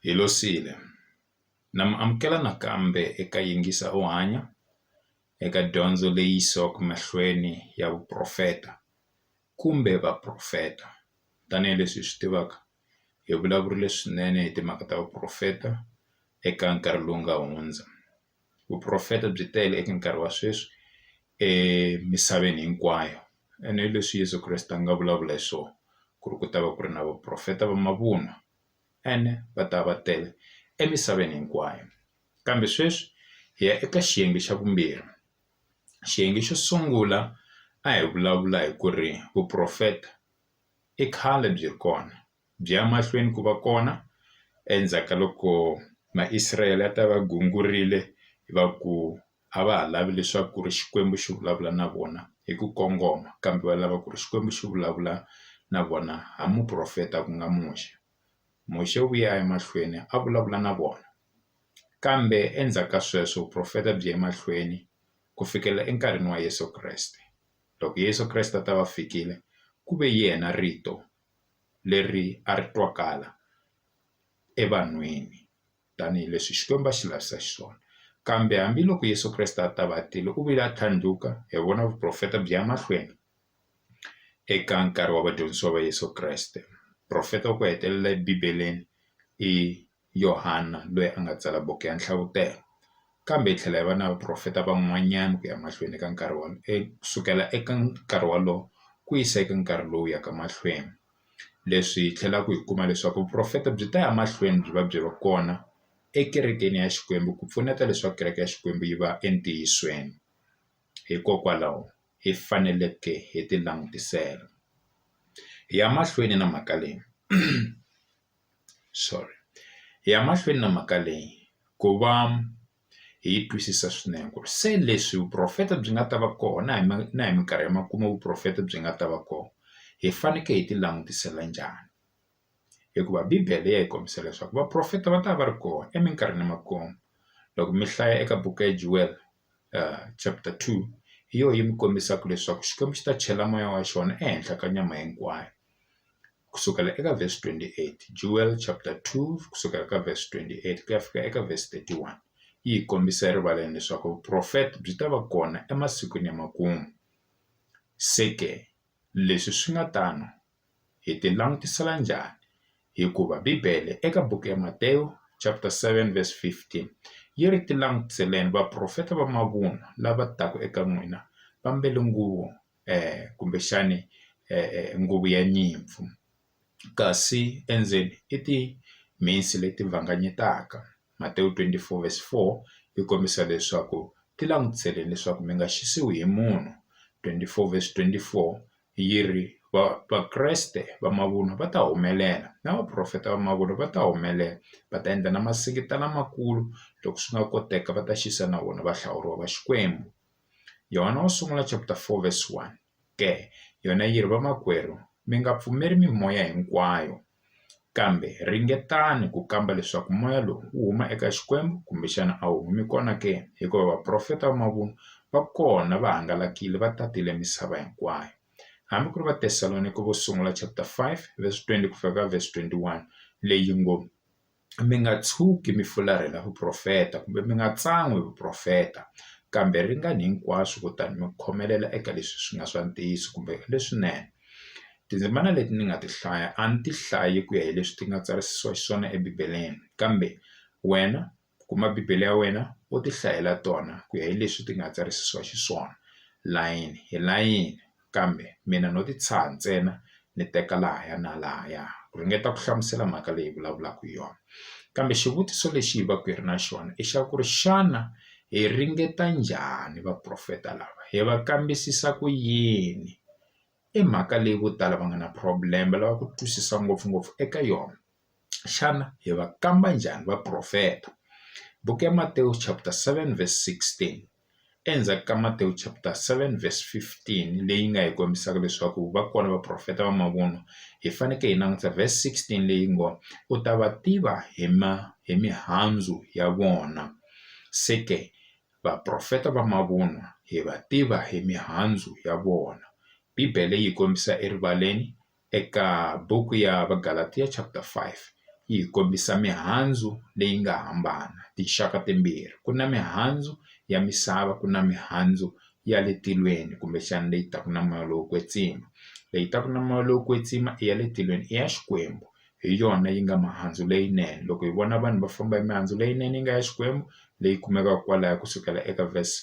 Hi losile. Na mi amukela nakambe eka Yingisa U Hanya eka dyondzo leyi yisaka mahlweni ya vuprofeta kumbe vaprofeta. Tanihi leswi hi swi tivaka, hi vulavurile swinene hi timhaka ta vuprofeta eka nkarhi lowu nga hundza. vuprofeta byi tele eka nkarhi wa sweswi emisaveni hinkwayo ene hi leswi Yeso Kreste a nga vulavula hi swona ku ri ku ta va ku ri na vaprofeta va mavunwa ene va ta va tele emisaveni hinkwayo kambe sweswi hi ya eka xiyenge xa vumbirhi xiyenge xo sungula a hi vulavula hi ku ri vuprofeta i khale byi ri kona. byi ya mahlweni ku va kona endzhaku ka loko ma Israel a ta va gungurile hi va ku a va ha lavi leswaku ri Xikwembu xi vulavula na vona hi ku kongoma kambe va lava ku ri Xikwembu xi vulavula na vona ha muprofeta ku nga Muxe Muxe u ya emahlweni a vulavula na vona kambe endzhaku ka sweswo vuprofeta byi ya emahlweni ku fikela enkarhini wa Yeso Kreste loko Yeso Kreste a ta va fikile ku ve yena rito. leri a ri twakala evanhwini tanihileswi Xikwembu a xi lavisa xiswona. Kambe hambiloko Yesu Kreste a ta va a tile, u vile a tlhandluka, hi vona vuprofeta byi ya mahlweni eka nkarhi wa vadyondzisiwa va Yesu Kreste. Profeta wa ku hetelela eBibeleni i. Yohana loyi a nga tsala buku ya nhlavutelo kambe hi tlhela hi va na vaprofeta van'wanyana ku ya mahlweni eka nkarhi wa kusukela eka nkarhi wolowo ku yisa eka nkarhi lowu yaka mahlweni leswi hi tlhelaku hi kuma leswaku vuprofeta byi ta ya mahlweni byi va byi ri kona ekerekeni ya Xikwembu ku pfuneta leswaku kereke ya Xikwembu yi va entiyisweni hikokwalaho hi faneleke hi ti langutisela hi ya mahlweni na mhaka leyi. sorry hi ya mahlweni na mhaka leyi ku va hi yi twisisa swinene ku ri se leswi vuporofeta byi nga ta va kona na hi ma na hi mikarhi ya makumu vuporofeta byi nga ta va kona hi fanekele hi ti langutisela njhani hikuva bibele ya hi kombisa leswaku vaporofeta va ta va ri kona eminkarhini ya makumu loko mi hlaya eka buku ya Joel. chapter two hi yona yi mi kombisaka leswaku Xikwembu xi ta chela moya wa xona ehenhla ka nyama hinkwayo kusukela eka verse twenty eight Joel chapter two kusukela ka verse twenty eight ku ya fika eka verse thirty one yi hi kombisa erivaleni leswaku vuprofeta byi ta va kona emasikwini ya makumu se ke leswi swi nga tano. hi ti langutisela njhani hikuva bibele eka buku ya Matewu chapter 7 verse 15 yi ri ti langutiseleni vaprofeta va mavunwa lava taka eka n'wina va mbele nguvu kumbexani nguvu ya nyimpfu kasi endzeni i timhisi leti vanganyetaka. Matewu 24 verse 4 yi kombisa leswaku ti langutisele leswaku mi nga xisiwi hi munhu 24 verse 24 yi ri va Vakreste va mavunwa va ta humelela na vaprofeta va mavunwa va ta humelela va ta endla na masingita lamakulu loko swi nga koteka va ta xisa na vona va hlawuriwa va Xikwembu Yona wo sungula chapter 4 verse 1. ke yona yi ri, Vamakwerhu, mi nga pfumeli mimoya hinkwayo, kambe ringetani ku kamba leswaku moya lowu wu huma eka Xikwembu kumbe xana a wu humi kona ke, hikuva vaprofeta va mavunwa va kona va hangalakile va tatile misava hinkwayo. Hambi ku ri Vatesalonike vo Sungula chapter 5 verse 20 ku fika ka verse 21 leyi ngo, mi nga tshuki mi fularhela vuprofeta kumbe mi nga tsan'wi hi vuprofeta kambe ringani hinkwaswo kutani mi khomelela eka leswi swi nga swa ntiyiso kumbe leswinene tindzimana leti ni nga ti hlaya a ni ti hlayi ku ya hi leswi ti nga tsarisiwa xiswona ebibeleni kambe wena kuma bibele ya wena u ti hlayela tona ku ya hi leswi ti nga tsarisiwa xiswona layeni hi layeni. kambe mina no ti tshaha ntsena ni teka lahaya na lahaya ku ringeta ku hlamusela mhaka leyi hi vulavulaka hi yona kambe xivutiso lexi hi va ku hi ri na xona i xa ku ri xana hi ringeta njhani vaprofeta lava hi va kambisisa ku yini i mhaka leyi vo tala va nga na problem lava ku twisisa ngopfungopfu eka yona. Xana hi va kamba njhani vaprofeta? Buku ya Matewu chapter 7 verse 16 endzhaku ka Matewu chapter 7 verse 15 leyi nga hi kombisaka leswaku va kona vaprofeta va mavunwa hi fanekele hi languta verse 16 leyi ngo u ta va tiva hi ma hi mihandzu ya vona se ke vaprofeta va mavunwa hi va tiva hi mihandzu ya vona bibele yi kombisa erivaleni eka buku ya Vagalatiya chapter 5 yi hi kombisa mihandzu leyi nga hambana tinxaka timbirhi ku na mihandzu ya misava ku na mihandzu ya le tilweni kumbexana leyi taka na moya lowo kwetsima leyi taka na moya lowo kwetsima i ya le tilweni i ya Xikwembu hi yona yi nga mihandzu leyinene loko hi vona vanhu va famba hi mihandzu leyinene yi nga ya Xikwembu leyi kumekaka kwalaya kusukela eka verse .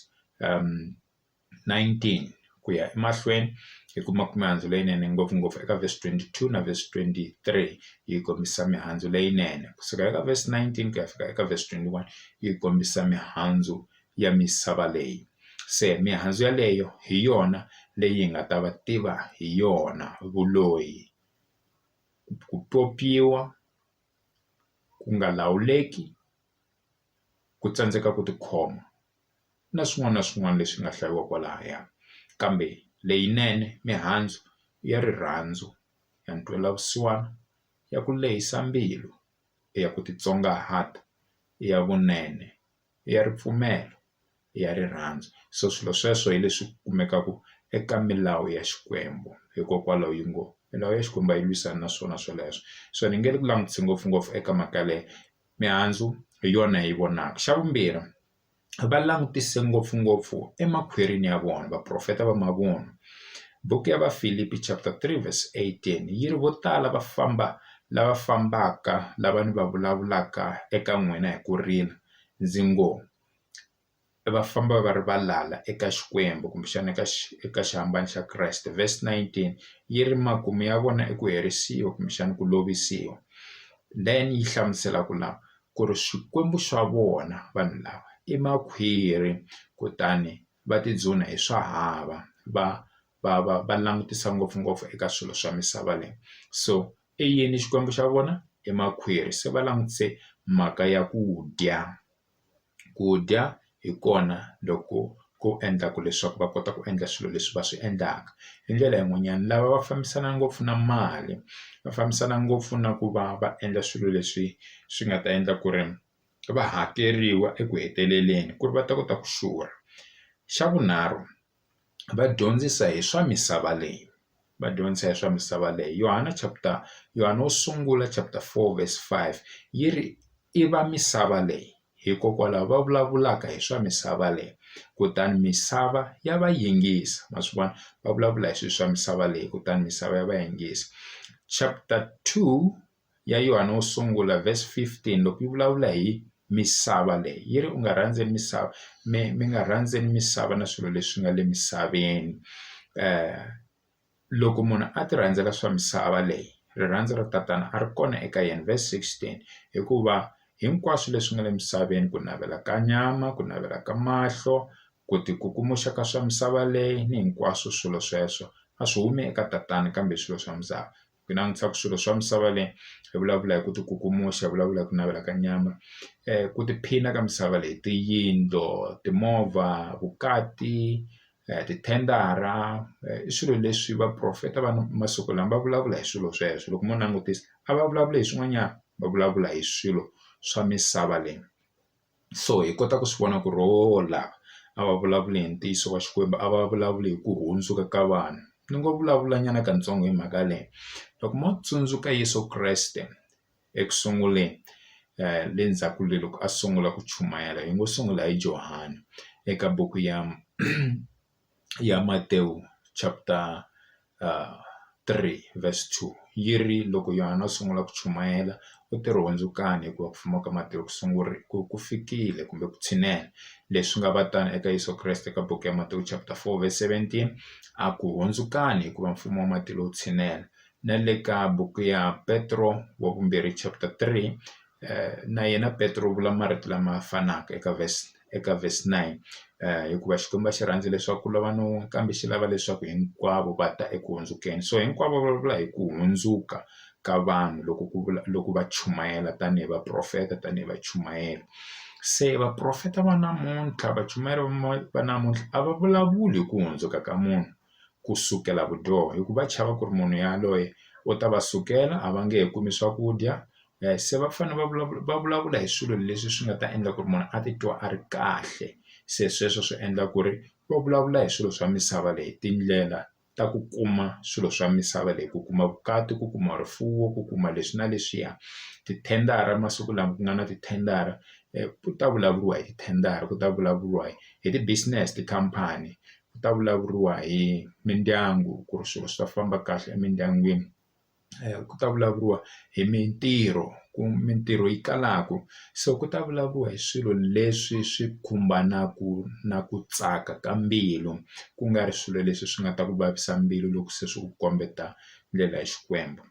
19 ku ya emahlweni hi ku ma kuma mihandzu leyinene ngopfungopfu eka vesi 22 na vesi 23 yi kombisa mihandzu leyinene kusuka eka vesi 19 ku ya fika eka vesi 21 yi kombisa mihandzu ya misava leyi se mihandzu yaleyo hi yona leyi hi nga ta va tiva hi yona vuloyi ku pyopyiwa ku nga lawuleki ku tsandzeka ku tikhoma. na swin'wana na swin'wana leswi nga hlayiwa kwalaya kambe leyinene mihandzu ya rirhandzu ya ntwela vusiwana ya ku lehisa mbilu ya ku titsongahata ya vunene ya ripfumelo ya rirhandzu so swilo sweswo hi leswi kumekaka eka milawu ya Xikwembu hikokwalaho yi ngo milawu ya Xikwembu a yi lwisana na swona sweleswo so ni nge ku langutisa ngopfungopfu eka mhaka yaleyo mihandzu hi yona yi vonaka xa vumbirhi va langutise ngopfungopfu emakhwirini ya vona vaprofeta va mavunwa buku ya vafilipi chapter three verse eighteen yi ri vo tala va famba lava fambaka lava ni va vulavulaka eka n'wina hi ku rila ndzi ngo va famba va ri valala eka Xikwembu kumbexana eka eka xihambano xa Kreste verse 19 yi ri makumu ya vona i ku herisiwa kumbexana ku lovisiwa then yi hlamusela ku lava ku ri Xikwembu xa vona vanhu lava i makhwiri kutani va tidzunha hi swa hava va va va va langutisa ngopfungopfu eka swilo swa misava leyi so i yini Xikwembu xa vona i makhwiri se va langutise mhaka ya ku dya. ku dya hi kona loko ku endlaka leswaku va kota ku endla swilo leswi va swi endlaka hi ndlela yin'wanyana lava va fambisana ngopfu na mali va fambisana ngopfu na ku va va endla swilo leswi swi nga ta endla ku ri va hakeriwa eku heteleleni ku ri va ta kota ku xurha xa vunharhu. va dyondzisa hi swa misava leyi va dyondzisa hi swa misava leyi Yona chapter Yona wo sungula chapter four verse five yi ri i va misava leyi hikokwalaho va vulavulaka hi swa misava leyi kutani misava ya va yingisa ma swi vona va vulavula hi swilo swa misava leyi kutani misava ya va yingisi chapter two. ya Yohana wo sungula verse fifteen loko yi vulavula hi misava leyi yi ri u nga rhandzi misava mi mi nga rhandzi misava na swilo leswi nga le misaveni loko munhu a ti rhandzela swa misava leyi rirhandzu ra tatana a ri kona eka yena verse sixteen hikuva hinkwaswo leswi nga le misaveni ku navela ka nyama ku navela ka mahlo ku ti kukumuxa ka swa misava leyi ni hinkwaswo swilo sweswo a swi humi eka tatana kambe swilo swa misava. ku langutisa ku swilo swa misava leyi hi vulavula hi ku ti kukumuxa hi vulavula hi ku navela ka nyama ku tiphina ka misava leyi tiyindlo timovha vukati tithendara i swilo leswi vaporofeta va masiku lama va vulavula hi swilo sweswo loko mo langutisa a va vulavuli hi swin'wanyana va vulavula hi swilo swa misava leyi. so hi kota ku swi vona ku ri hola a va vulavuli hi ntiyiso wa Xikwembu a va vulavuli hi ku hundzuka ka vanhu ni ngo vulavula nyana katsongo hi mhaka leyi loko mo tsundzuka Yeso Kreste eku sunguleni le ndzhaku le loko a sungula ku chumayela hi ngo sungula hi Johani eka buku ya. ya Matewu chapter three verse two yi ri loko Yona a sungula ku chumayela u te ri hundzukani hikuva ku fuma ka Matewu ku sungurile ku ku fikile kumbe ku tshinela leswi nga va tano eka Yeso Kreste ka buku ya Matewu chapter four verse seventeen a ku hundzukani hikuva mfumo wa matilo wu tshinela na le ka buku ya Petro wa vumbirhi chapter three na yena Petro u vula marito lama fanaka eka verse eka verse nine hikuva Xikwembu a xi rhandzi leswaku ku lova ni wun'we kambe xi lava leswaku hinkwavo va ta eku hundzukeni so hinkwavo va vulavula hi ku hundzuka ka vanhu loko ku vula loko va chumayela tanihi vaprofeta tanihi vachumayeri se vaprofeta va namuntlha vachumayeri va namuntlha a va vulavuli hi ku hundzuka ka munhu ku sukela vudyoho hikuva va chava ku ri munhu yaloye u ta va sukela a va nge he kumi swakudya se va fanele va vulavula va vulavula hi swilo leswi swi nga ta endla ku ri munhu a titwa a ri kahle se sweswo swi endla ku ri va vulavula hi swilo swa misava leyi tindlela ta ku kuma swilo swa misava leyi ku kuma vukati ku kuma rifuwo ku kuma leswi na leswiya tithendara masiku lama ku nga na tithendara ku ta vulavuriwa hi tithendara ku ta vulavuriwa hi hi ti business tikhampani ku ta vulavuriwa hi mindyangu ku ri swilo swi ta famba kahle emindyangwini. ku ta vulavuriwa hi mintirho ku mintirho yi kalaku so ku ta vulavuriwa hi swilo leswi swi khumbanaku na ku tsaka ka mbilu ku nga ri swilo leswi swi nga ta ku vavisa mbilu loko se swi ku kombeta ndlela ya Xikwembu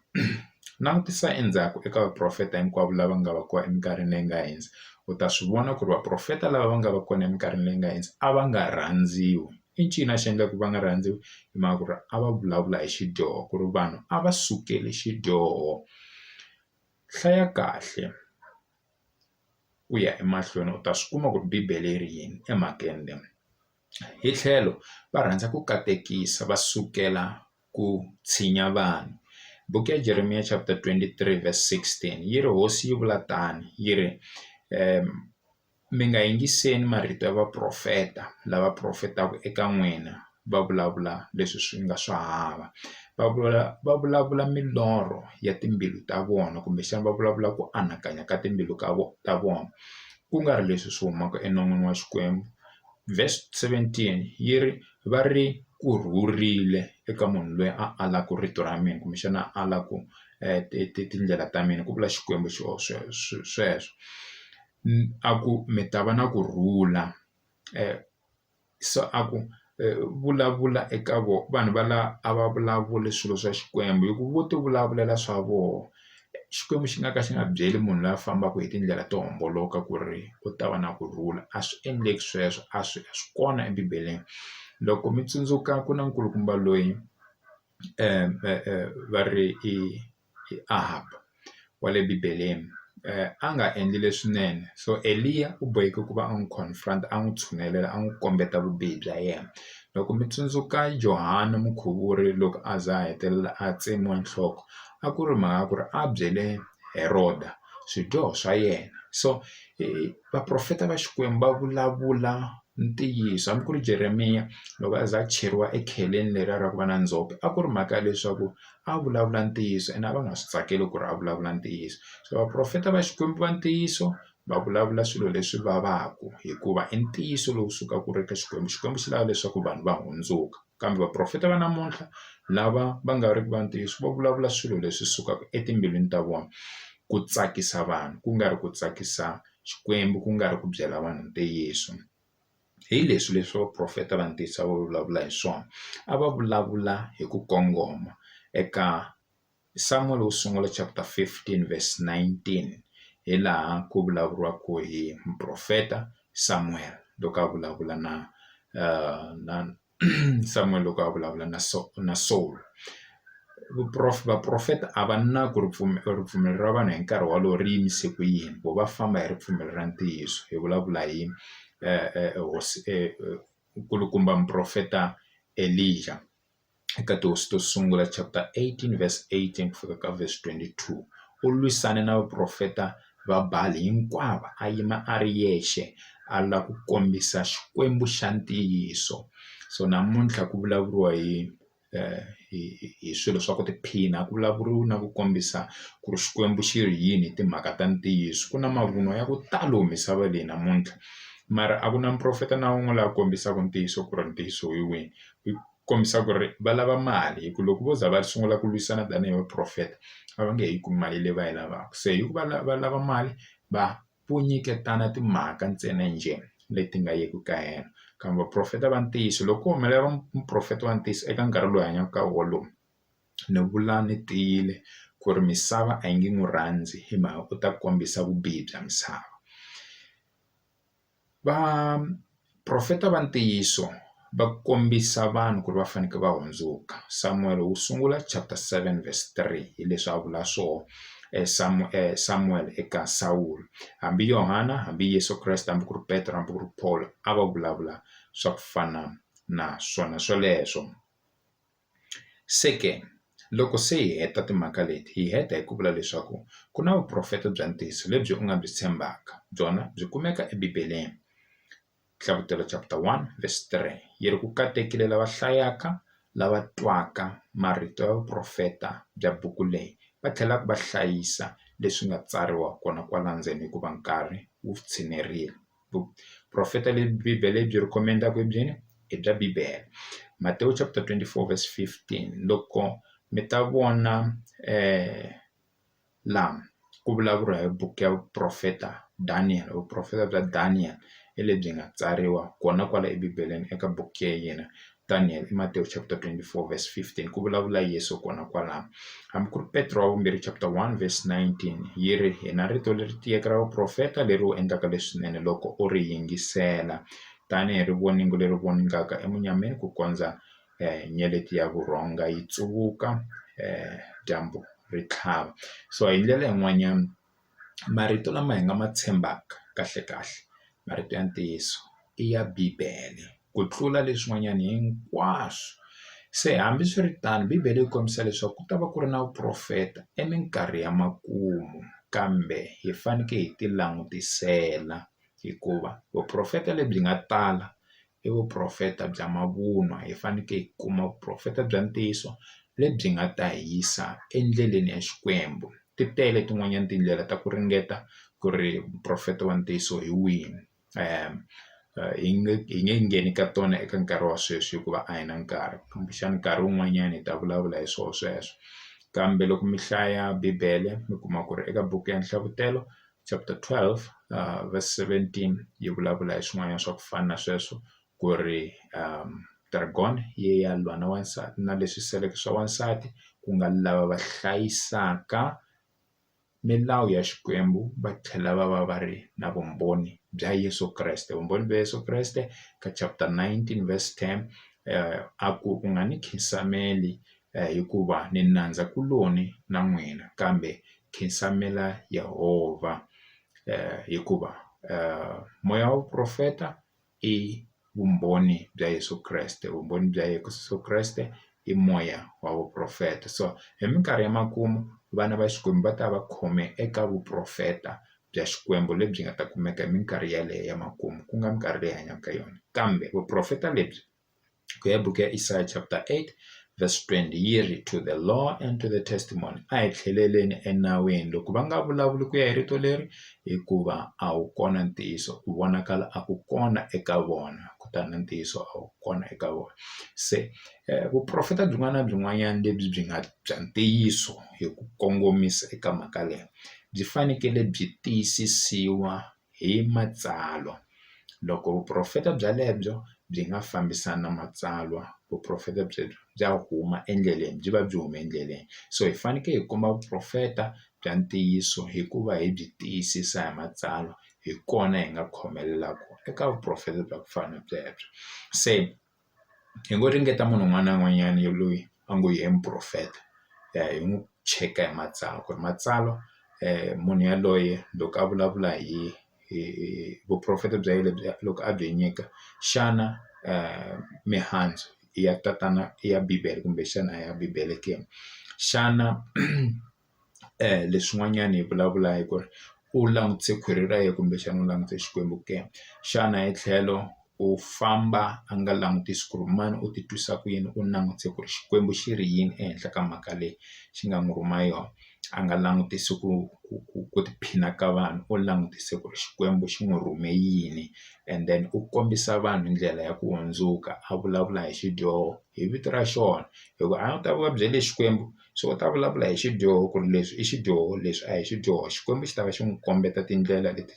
langutisa endzhaku eka vaprofeta hinkwavo lava nga va kona eminkarhini leyi nga hundza u ta swi vona ku ri vaprofeta lava va nga va kona eminkarhini leyi nga hundza a va nga rhandziwi. i ncini a xi endla ku va nga rhandziwi hi mhaka ku ri a va vulavula hi xidyoho ku ri vanhu a va sukeli xidyoho hlaya kahle ku ya emahlweni u ta swi kuma ku ri bibele yi ri yini emhakeni leyi hi tlhelo va rhandza ku katekisa va sukela ku tshinya vanhu buku ya Jeremiya chapter twenty three verse sixteen yi ri hosi yi vula tano yi ri . mi nga yingiseli marito ya vaprofeta lava profetaka eka n'wina va vulavula leswi swi nga swa hava va vula va vulavula milorho ya timbilu ta vona kumbexana va vulavula ku anakanya ka timbilu ka vona ta vona ku nga ri leswi swi humaka enon'wini wa Xikwembu verse seventeen yi ri va ri ku rhurile eka munhu loyi a alaka rito ra mina kumbexana a alaka ti ti tindlela ta mina ku vula Xikwembu xona sweswo sweswo. a ku mi ta va na ku rhula se a ku vulavula eka vona vanhu va la a va vulavuli swilo swa xikwembu hi ku vo ti vulavulela swa vona xikwembu xi nga ka xi nga byeli munhu loyi a fambaka hi tindlela to homboloka ku ri u ta va na ku rhula a swi endleki sweswo a swi a swi kona ebibeleni loko mi tsundzuka ku na nkulukumba loyi va ri i. hi Ahab wa le Bibeleni a nga endli leswinene so Eliya u boheke ku va a n'wi confront a n'wi tshunelela a n'wi kombeta vubihi bya yena loko mi tsundzuka Johani mukhuvuri loko a za a hetelela a tsemiwa nhloko a ku ri mhaka ku ri a byele Heroda swidyoho swa yena so vaprofeta va Xikwembu va vulavula ntiyiso hambi ku ri Jeremiya loko a za a cheriwa ekheleni leriya ra ku va na ndzhope a ku ri mhaka ya leswaku a vulavula ntiyiso ene a va nga swi tsakeli ku ri a vulavula ntiyiso se vaporofeta va Xikwembu va ntiyiso va vulavula swilo leswi vavaka hikuva i ntiyiso lowu sukaka ku ri ka Xikwembu Xikwembu xi lava leswaku vanhu va hundzuka kambe vaporofeta va namuntlha lava va nga ri ki va ntiyiso va vulavula swilo leswi sukaka etimbilwini ta vona ku tsakisa vanhu ku nga ri ku tsakisa Xikwembu ku nga ri ku byela vanhu ntiyiso. hi leswi leswi vaprofeta va ntiyiso a va vulavula hi swona a va vulavula hi ku kongoma eka Samuel wo sungula chapter fifteen verse nineteen hi laha ku vulavuriwaka hi muprofeta Samuel loko a vulavula na na. Samuel loko a vulavula na so na Saul vuprof-, vaprofeta a va na ku ripfumelo ripfumelo ra vanhu hi nkarhi wolowo ri yimise ku yini ku va famba hi ripfumelo ra ntiyiso hi vulavula hi hosi nkulukumba muprofeta Elija eka tihosi to sungula chapter eighteen verse eighteen ku fika ka verse twenty two u lwisane na vaprofeta Vabali hinkwavo a yima a ri yexe a la ku kombisa Xikwembu xa ntiyiso so namuntlha ku vulavuriwa hi hi hi swilo swa ku tiphina a ku vulavuriwi na ku kombisa ku ri Xikwembu xi ri yini hi timhaka ta ntiyiso ku na mavunwa ya ku talo misava leyi namuntlha mara a ku na muprofeta na wun'we la kombisaka ntiyiso ku ri ntiyiso hi wini . kombisa ku ri va lava mali hi ku loko vo za va sungula ku lwisana tanihi va profeta a va nge he yi kumi mali leyi va yi lavaka se hi ku va lava lava mali va vo nyiketana timhaka ntsena njhe leti nga yiki ka helo kambe vaprofeta va ntiyiso loko ko humelela muprofeta wa ntiyiso eka nkarhi lowu hi hanyaka ka wolowo ni vula ni tiyile ku ri misava a yi nge n'wi rhandzi hi mhaka u ta kombisa vubihi bya misava. Vaprofeta va ntiyiso va kombisa vanhu ku ri va fanekele va hundzuka Samuwele wu sungula chapter seven verse three hi leswi a vula swona Samuwele eka Sawulo hambi Yohana hambi Yeso Kreste hambi ku ri Petro hambi ku ri Paul a va vulavula swa ku fana na swona swoleswo. Se ke loko se hi heta timhaka leti hi heta hi ku vula leswaku ku na vuprofeta bya ntiyiso lebyi u nga byi tshembaka byona byi kumeka ebibeleni hlavutelo chapter one verse three yi ri ku katekisa lava hlayaka lava twaka marito ya vuprofeta bya buku leyi va tlhelaka va hlayisa leswi nga tsariwa kona kwala ndzeni hikuva nkarhi wu tshinerile. vuprofeta lebyi bibele lebyi ri komendaku hi byini i bya bibele Matewu chapter 24 verse 15 loko mi ta vona laha ku vulavuriwa hi buku ya vuprofeta Daniel vuprofeta bya Daniel hi lebyi nga tsariwa kona kwala ebibeleni eka buku ya yena Daniel i Matewu chapter 24 verse 15 ku vulavula Yesu kona kwalano hambi ku ri Petro wa vumbirhi chapter 1 verse 19 yi ri hi na rito leri tiyeke ra vuprofeta leri u endlaka leswinene loko u ri yingisela tanihi ri voningo leri voningaka emunyameni ku kondza um nyeleti ya vurhonga yi tsuvuka um dyambu ri tlhava so hi ndlela yin'wanyana marito lama hi nga ma tshembaka kahlekahle marito ya ntiyiso i ya bibele ku tlula leswin'wanyana hinkwaswo se hambiswiritano bibele yi kombisa leswaku ku ta va ku ri na vuporofeta i minkarhi ya makumu kambe hi fanekele hi ti langutisela hikuva vuporofeta lebyi nga tala i vuprofeta bya mavunwa hi fanekele hi kuma vuprofeta bya ntiyiso lebyi nga ta hi yisa endleleni ya Xikwembu ti tele tin'wanyana tindlela ta ku ringeta ku ri muprofeta wa ntiyiso hi wihi hi nge hi nge ngheni ka tona eka nkarhi wa sweswi hikuva a hi na nkarhi kumbexana nkarhi wun'wanyana hi ta vulavula hi swona sweswo kambe loko mi hlaya bibele mi kuma ku ri eka buku ya nhlavutelo chapter 12 verse 17 yi vulavula hi swin'wanyana swa ku fana na sweswo ku ri dragon yi ya lwa na wansati na leswi seleke swa wansati ku nga lava va hlayisaka milawu ya Xikwembu va tlhela va va va ri na vumbhoni bya Yeso Kreste vumbhoni bya Yeso Kreste ka chapter 19 verse 10 a ku u nga ni nkhinsamelo hikuva ni nandza kuloni na n'wina kambe khensamela Yehovha hikuva moya wa vuprofeta i vumbhoni bya Yeso Kreste vumbhoni bya Yeso Kreste i moya wa vuprofeta so hi minkarhi ya makumu vana va Xikwembu va ta va khome eka vuprofeta bya Xikwembu lebyi nga ta kumeka hi minkarhi yaleyo ya makumu ku nga minkarhi leyi hi hanyaka ka yona kambe vuprofeta lebyi. ku ya buku ya Isaya chapter 8 verse 20 yi ri to the law and to the testimony a hi tlheleleni enawini loko va nga vulavuli ku ya hi rito leri hikuva a wu kona ntiyiso ku vonakala a ku kona eka vona kutani na ntiyiso a wu kona eka vona se eh, vuprofeta byin'wana na byin'wanyana lebyi byi nga bya ntiyiso hi ku kongomisa eka mhaka leyi byi fanekele byi tiyisisiwa hi Matsalwa. Loko vuprofeta byelebyo byi nga fambisani na Matsalwa, vuprofeta byelebyo bya huma endleleni, byi va byi huma endleleni. So hi fanekele hi kuma vuprofeta bya ntiyiso hi ku va hi byi tiyisisa hi Matsalwa, hi kona hi nga khomelelaku eka vuprofeta bya ku fana na byelebyo. Se. hi ngo ringeta munhu un'wana na un'wanyana ya loyi a ngo yena muporofeta ya hi n'wi cheka hi matsalwa ku ri matsalwa munhu yaloye loko a vulavula hi hi hi vuporofeta bya yena lebyi loko a byi nyika xana mihandzu ya tatana ya bibele kumbexana a ya bibele ke xana. leswin'wanyana hi vulavula hi ku ri u langutise khwiri ra yena kumbexana u langutise Xikwembu ke xana hi tlhelo u famba a nga langutisi ku ri mani u ti twisa ku yini u langutise ku ri Xikwembu xi ri yini ehenhla ka mhaka leyi xi nga n'wi rhuma yona a nga langutisi ku ku ku ku tiphina ka vanhu u langutise ku ri Xikwembu xi n'wi rhume yini and then u kombisa vanhu ndlela ya ku hundzuka a vulavula hi xidyoho hi vito ra xona hikuva a wu ta va byele Xikwembu. so u ta vulavula hi xidyoho ku ri leswi i xidyoho leswi a hi xidyoho Xikwembu xi ta va xi n'wi kombeta tindlela leti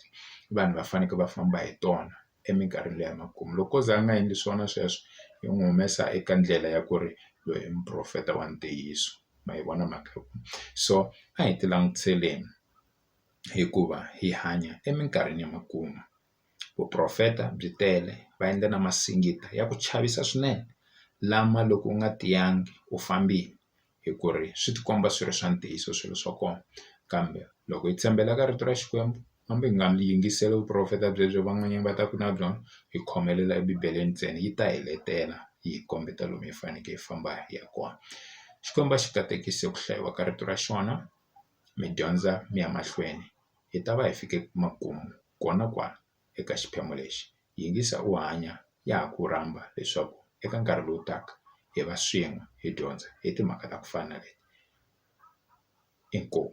vanhu va fanekele va famba hi tona eminkarhini leyi ya makumu loko o za a nga endli swona sweswo yi n'wi humesa eka ndlela ya ku ri loyi i muprofeta wa ntiyiso ma yi vona mhaka yo so a hi ti langutiseleni hikuva hi hanya eminkarhini ya makumu. Vuprofeta byi tele va endla na masingita ya ku chavisa swinene lama loko u nga tiyangi u fambile hi ku ri swi tikomba swi ri swa ntiyiso swilo swa kona kambe loko hi tshembela ka rito ra Xikwembu hambi hi nga yingiseli vuprofeta byebyo van'wanyana va ta ku na byona hi khomelela ebibeleni ntsena yi ta hi letela yi hi kombeta lomu hi faneke hi famba hi ya kona Xikwembu a xi katekisa ku hlayiwa ka rito ra xona mi dyondza mi ya mahlweni hi ta va hi fike makumu. Kona kwala eka xiphemu lexi, Yingisa U Hanya ya ha ku rhamba leswaku eka nkarhi lowu taka hi va swin'we hi dyondza hi timhaka ta ku fana na leti. Inkomu.